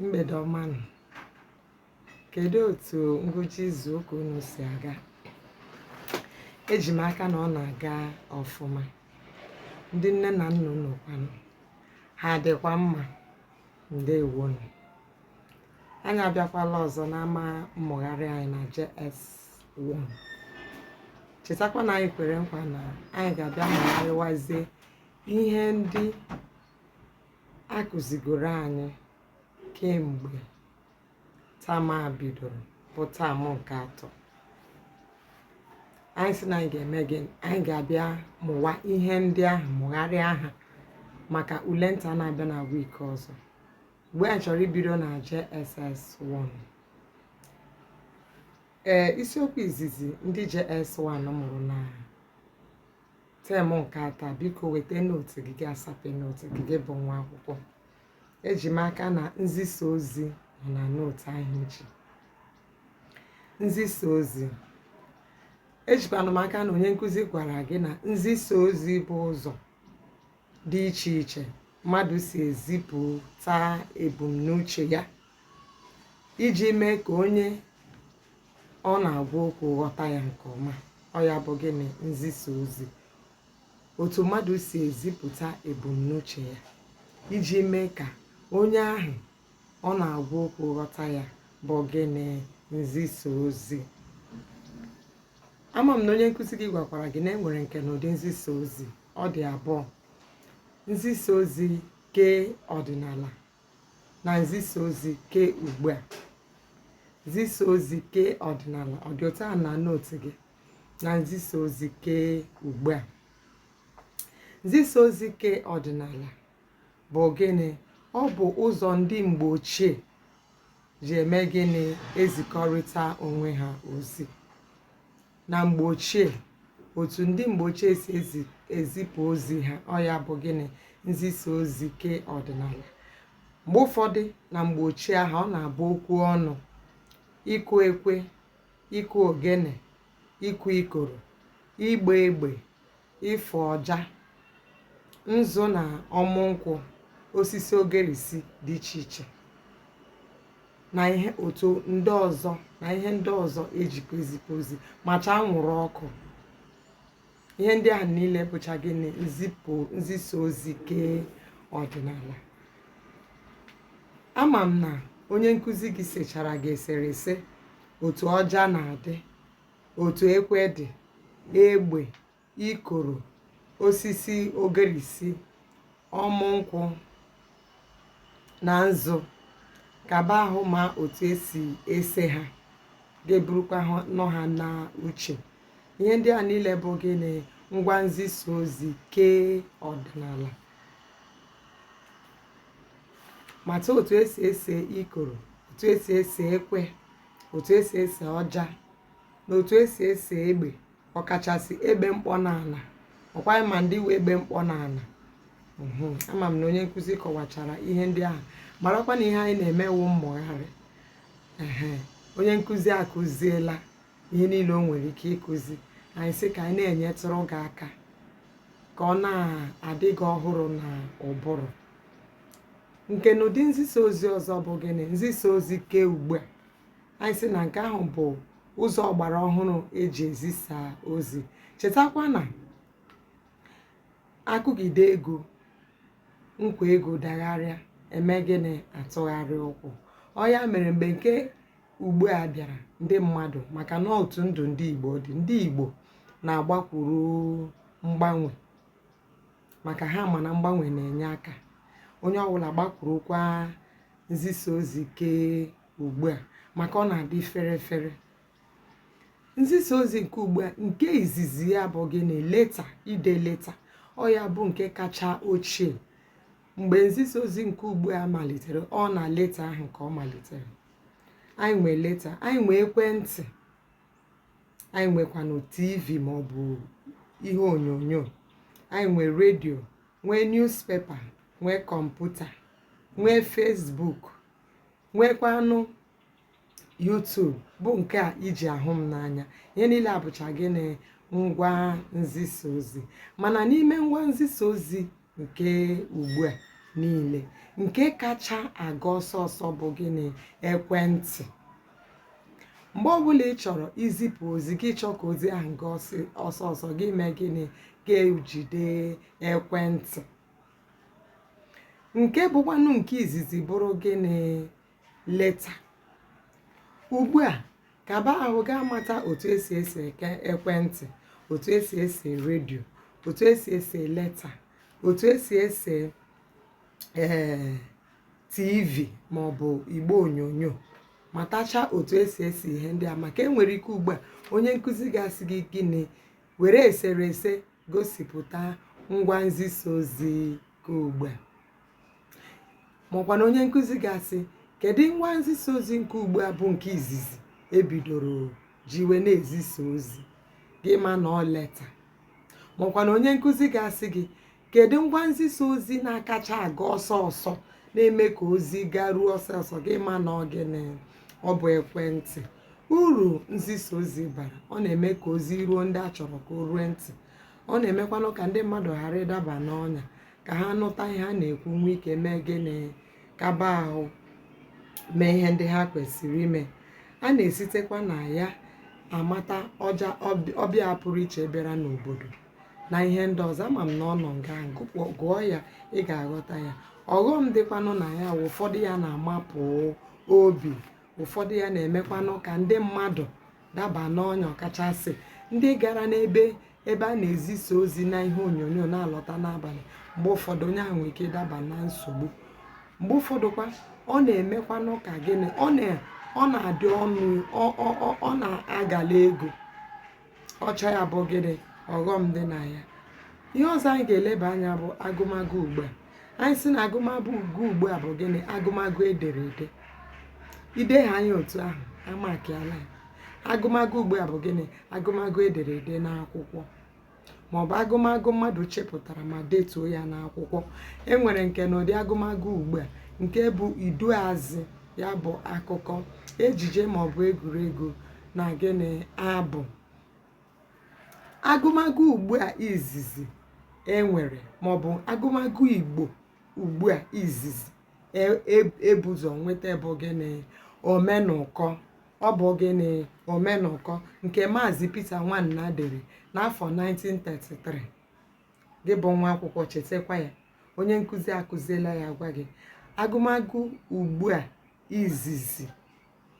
mgbede ọma nụ kedu otu ngwụcha izu ụka unu si aga eji m aka na ọ na-aga ọfụma ndị nne na nna unu kwanụ ha adịkwa mma ndewo nụ anyị abịakwala ọzọ n'ama mmụgharị anyị na JS1 chetakwa na anyị kwere nkwa na anyị ga-abịa mụgharịwazie ihe ndị a kụzigoro anyị kemgbe term a bidoro bụ term nke atọ anyị si na anyị ga-eme gịnị anyị ga-abịa mụwa ihe ndị ahụ mụgharịa ha maka ule nta na-abịa na week ọzọ ebe anyị chọrọ ibido na JSS1 ee isiokwu izizi ndị JS1 mụrụ na term nke atọ biko weta note gị gị asape note gị gị bụ nwa akwụkwọ eji m aka na nzisa ozi nọ na note ahụ echi nzisa ozi ejikwana m aka na onye nkụzi gwara gị na nzisa ozi bụ ụzọ dị iche iche mmadụ si ezipụta ebumnuche ya iji mee ka onye ọ na-agwa okwu ghọta ya nke ọma ọ ya bụ gịnị nzisa ozi otu mmadụ si ezipụta ebumnuche ya iji mee ka onye ahụ ọ na-agwa okwu ghọta ya bụ gịnị nzisa ozi ama m na onye nkụzi gị gwakwara gị na e nwere nkenụdị nzisa ozi ọ dị abụọ nzisa ozi ke ọdịnala na nzisa ozi ke ugbu a nzisa ozi ke ọdịnala ọ dị otu a na note gị na nzisa ozi ke ugbu a nzisa ozi ke ọdịnala bụ gịnị ọ bụ ụzọ ndị mgbe ochie ji eme gịnị ezikọrịta onwe ha ozi na mgbe ochie otu ndị mgbe ochie si ezipụ ozi ha ọ ya bụ gịnị nzisa ozi ke ọdịnala mgbe ụfọdụ na mgbe ochie ahụ ọ na-abụ okwu ọnụ ịkụ ekwe ịkụ ogene ịkụ ikoro ịgba egbe ịfụ ọja nzu na ọmụ nkwụ osisi ogerisi dị iche iche na ihe ndị ọzọ e jikwa ezipụ ozi macha anwụrụ ọkụ ihe ndị ahụ niile bụcha gịnị nzipụ nzisa ozi kee ọdịnala ama m na onye nkụzi gị sechara gị eserese otu ọja na-adị otu ekwe dị, egbe, ikoro, osisi ogirisi, ọmụ nkwụ na nzu kaba ahụ ma otu esi ese ha gị eburukwanụ ha na uche ihe ndị a niile bụ gịnị ngwa nzisa ozi ke ọdịnala mata otu esi ese ikoro otu esi ese ekwe otu esi ese ọja na otu esi ese egbe ọkachasị egbe mkpọ n'ala ọkwa ị ma ndị wụ egbe mkpọ n'ala ama m na onye nkụzi kọwachara ihe ndị ahụ marakwa na ihe anyị na-eme wụ mmụgharị onye nkụzi akụziela ihe niile o nwere ike ịkụzi anyị sị ka anyị na-enyetụrụ gị aka ka ọ na-adị gị ọhụrụ na ụbụrụ nke na ụdị nzisa ozi ọzọ bụ gịnị nzisa ozi ke ugbu a anyị sị na nke ahụ bụ ụzọ ọgbara ọhụrụ eji ezisa ozi chetakwa na akụgide egwu nkwa egwu dagharịa emee gịnị atụgharịa ụkwụ ọ ya mere mgbe nke ugbu a bịara ndị mmadụ maka na otu ndụ ndị igbo dị ndị igbo na-agbakwuru mgbanwe maka ha ma na mgbanwe na-enye aka onye ọbụla gbakwurukwa nzisa ozi ke ugbu a maka ọ na-adị fere fere nzisa ozi nke ugbu a nke izizi ya bụ gịnị leta ide leta ọ ya bụ nke kacha ochie mgbe nzisa ozi nke ugbu a malitere ọ na leta ahụ ka ọ malitere anyị nwee leta anyị nwee ekwentị anyị nwekwanụ tv ma ọ bụ ihe onyonyo anyị nwee redio nwee newspaper nwee kọmputa nwee Facebook nwekwanụ YouTube bụ nke i ji ahụ m n'anya ihe niile a bụcha gịnị ngwa nzisa ozi mana n'ime ngwa nzisa ozi nke ugbu a niile nke kacha aga ọsọ ọsọ bụ gịnị ekwentị mgbe ọbụla ị chọrọ izipụ ozi gị chọọ ka ozi ahụ gaa ọsị- ọsọ ọsọ gị mee gịnị gị ejide ekwentị nke bụkwanụ nke izizi bụrụ gịnị leta ugbu a kaba ahụ gaa mata otu esi ese eke ekwentị otu esi ese redio otu esi ese leta otu esi ese ee tv maọbụ igbe onyonyo matacha otu esi ese ihe ndị a maka enwere ike ugbu a onye nkụzi ga-asị gị gịnị were eserese gosipụta ngwa nzisa ozi ke ugbu a makwa na onye nkụzi ga-asị kedu ngwa nzisa ozi nke ugbu a bụ nke izizi e bidoro jiwe na-ezisa ozi gị ma na ọ leta makwa na onye nkụzi ga-asị gị kedu ngwa nzisa ozi na-akacha aga ọsọ ọsọ na-eme ka ozi garuo ọsọ ọsọ gị ma na ọ gịnị ọ bụ ekwentị uru nzisa ozi bara ọ na-eme ka ozi ruo ndị a chọrọ ka o rue ntị ọ na-emekwanụ ka ndị mmadụ ghara ịdaba n'ọnya ka ha nụta ihe a na-ekwu nwee ike mee gịnị kaba ahụ mee ihe ndị ha kwesịrị ime a na-esitekwa na ya amata ọja ọb- ọbịa pụrụ iche bịara n'obodo na ihe ndị ọzọ ama m na ọ nọ nga ahụ, gụpụ- gụọ ya ị ga-aghọta ya ọghọm dịkwanụ na ya wụ ụfọdụ ya na-amapụ obi ụfọdụ ya na-emekwanụ ka ndị mmadụ daba n'ọnya ọkachasị ndị gara n'ebe ebe a na-ezisa ozi n'ihe onyonyo na-alọta n'abalị mgbe ụfọdụ onye ahụ nwere ike ịdaba na nsogbu mgbe ụfọdụkwa ọ na-emekwanụ ka gịnị ọ na-adị ọnụ ọ na-agala ego ọ cha ya bụ gịnị ọghọm dị na ya ihe ọzọ anyị ga-eleba anya bụ agụmagụ ugbu a anyị sị na agụmagụ ugbu a bụ gịnị agụmagụ e dere ede i dehaa ya otu ahụ a makịala ya agụmagụ ugbu a bụ gịnị agụmagụ e dere ede n'akwụkwọ maọbụ agụmagụ mmadụ chepụtara ma detuo ya n'akwụkwọ e nwere nkenụdị agụmagụ ugbu a nke bụ iduuazị ya bụ akụkọ ejije maọbụ egwuregwu na gịnị abụ agụmagụ ugbu a izizi e nwere maọbụ agụmagụ igbo ugbu a izizi e bu ụzọ e, e nweta bụ gịnị omenụkọ ọ bụ gịnị omenụkọ nke maazị Peter Nwana dere n'afọ 1933 gị bụ nwa akwụkwọ chetakwa ya onye nkụzi akụziela ya gwa gị agụmagụ ugbu a izizi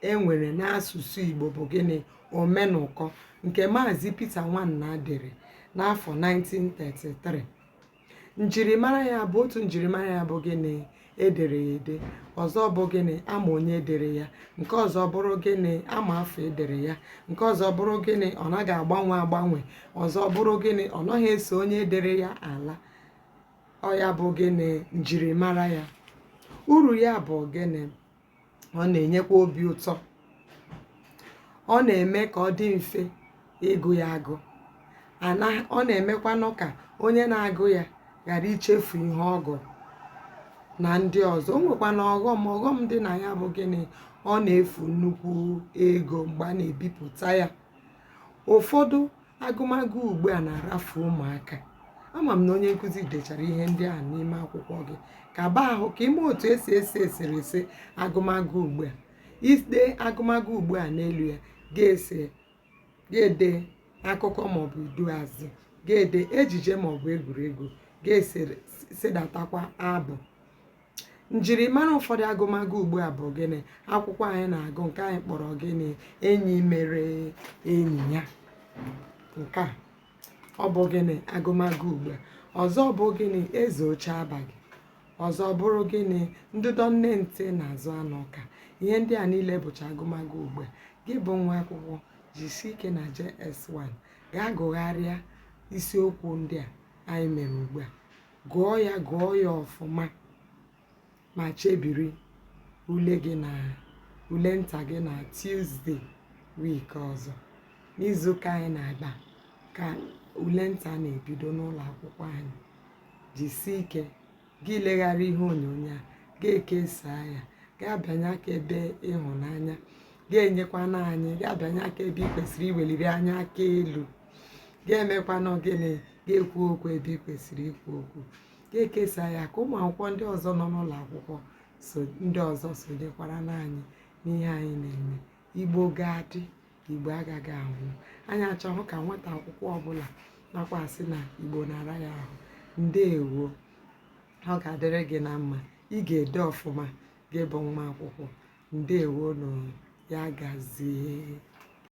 e nwere n'asụsụ Igbo bụ gịnị omenụkọ nke Maazị Peter Nwana dere n'afọ 1933 njirimara ya bụ otu njirimara ya bụ gịnị e dere ya ede ọzọ bụ gịnị a ma onye dere ya nke ọzọ bụrụ gịnị a ma afọ e dere ya nke ọzọ bụrụ gịnị ọ naghị agbanwe agbanwe ọzọ bụrụ gịnị ọ naghị eso onye dere ya ala ọ ya bụ gịnị njirimara ya uru ya bụ gịnị ọ na-enyekwa obi ụtọ ọ na-eme ka ọ dị mfe ịgụ ya agụ ọ na-emekwanụ ka onye na-agụ ya ghara ichefu ihe ọ gụrụ na ndị ọzọ o nwekwanụ ọghọm ọghọm dị na ya bụ gịnị ọ na-efu nnukwu ego mgbe a na-ebipụta ya ụfọdụ agụmagụ ugbu a na-arafu ụmụaka ama m na onye nkụzi dechara ihe ndị a n'ime akwụkwọ gị ka ba ahụ ka ime otu esi ese eserese agụmagụ ugbu a i dee agụmagụ ugbu a n'elu ya gị esee gị edee akụkọ maọbụ iduuazị gị edee ejije maọbụ egwuregwu gị esedatakwa abụ njirimara ụfọdụ agụmagụ ugbu a bụ gịnị akwụkwọ anyị na-agụ nke anyị kpọrọ gịnị enyi mere enyi ya nke a ọ bụ gịnị agụmagụ ugbu a ọzọ bụ gịnị eze oche abaghị ọzọ bụrụ gịnị ndụdọ nne ntị na-azụ anụ ọka ihe ndị a niile bụcha agụmagụ ugbu a gị bụ nwa akwụkwọ jisie ike na JS1 gaa gụgharịa isiokwu ndị a anyị mere ugbu a gụọ ya gụọ ya ọfụma ma chebiri ule gị na ule nta gị na Tuesday week ọzọ n'izuụka anyị na-agba ka ule nta na-ebido n'ụlọ akwụkwọ anyị jisie ike gị elegharịa ihe onyonyo a gị ekesaa ya gị abịanye aka ebe ịhụnanya gị enyekwanụ anyị gị abịanye aka ebe ị kwesịrị iweliri anyị aka elu gị emekwanụ gịnị gị ekwuo okwu ebe ị kwesịrị ikwu okwu gị ekesaa ya ka ụmụ akwụkwọ ndị ọzọ nọ n'ụlọ akwụkwọ ndị ọzọ sonyekwara n'anyị n'ihe anyị na-eme igbo ga-adị igbo agaghị anwụ anyị achọghị ka nwata akwụkwọ ọbụla na-akwa sị na igbo na-ara ya ahụ ndeewo ọ ga-adịrị gị na mma ị ga-ede ọfụma gị bụ nwa akwụkwọ ndeewo nụ ya gazie